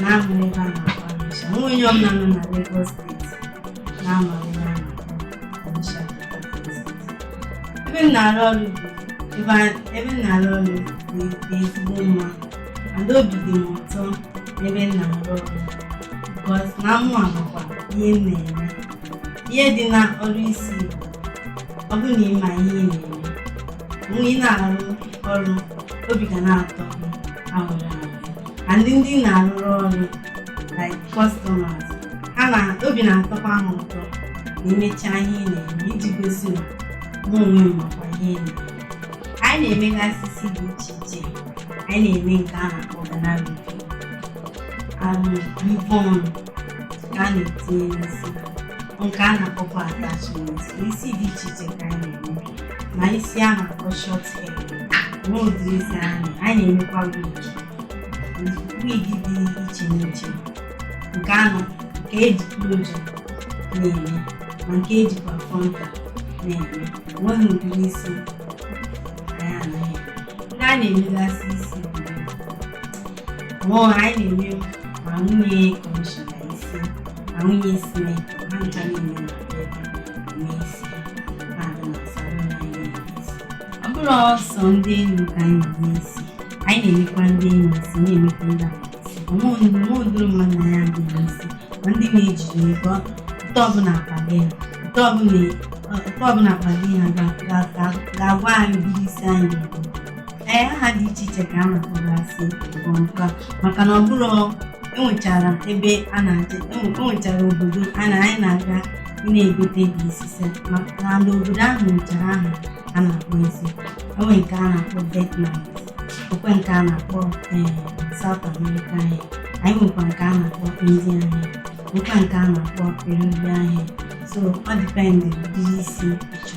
na-ahụ ebe a na-akpọ Anisha o nwe onye ọbụla nọ na Lagos steeti na-ama ebe a na-akpọ Anisha ebe m na-arụ ọrụ bụ ebe a- ebe m na-arụ ọrụ dị dị ezigbo mma and obi dị m ụtọ n'ebe m na-arụ ọrụ because na mụ amakwa ihe m na-eme ihe dị na ọrụ isi bụ ọ bụrụ na ị ma ihe ị na-eme mgbe ị na-arụ ọrụ obi ga na-atọ gị ahụrụ ahụ and ndị ị na-arụrụ ọrụ like customers ha na obi na-atọkwa ha ụtọ ma imechaa ihe ị na-eme iji gosi na mụ onwe m makwa ihe ị na-eme anyị na-emegasị isi dị iche iche anyị na-eme nke a na-akpọ Ghana weaving and weavon ka a na-etinye n'isi nke a na-akpọkwa attachment isi dị iche iche ka anyị na-eme ma isi a na-akpọ short hair nwe ụdịrị isi anyị na-emekwa wig wig dị iche n'iche nke ahụ nke eji closure na-eme ma nke ejikwa frontal na-eme nweghị ụdịrị isi anyị anaghị ndị a na-emegasị isi mụọ anyị na-eme ma nwunye kọmishọna isi ma nwunye sinetọ ha ncha na-eme ọ bụrọ sọọ ndị enyi ka anyị na-eme isi anyị na-emekwa ndị enyi isi na-emekwa ndị o nwe ụdịrị mmadụ anyị adịghị eme isi ma ndị na-ejighị ego otu ọbụla akpa gị ha otu ọbụla akpa gị ha ga-agwa anyị ụdịrị isi anyị ee aha dị iche iche ka a na-akpọgasị ọmpa maka na ọ bụrụ enwechara ebe a na-aje enwechara obodo a na anyị na-aga na-egote ụdị isi maka na ndị obodo ahụ nwechara aha a na-akpọ isi e nwe nke a na-akpọ Vietnam o nwe nke a na-akpọ ee South America hair anyị nwekwa nke a na-akpọ India hair nwekwa nke a na-akpọ Peruvian hair so ọ depend ụdịrị isi ị chọ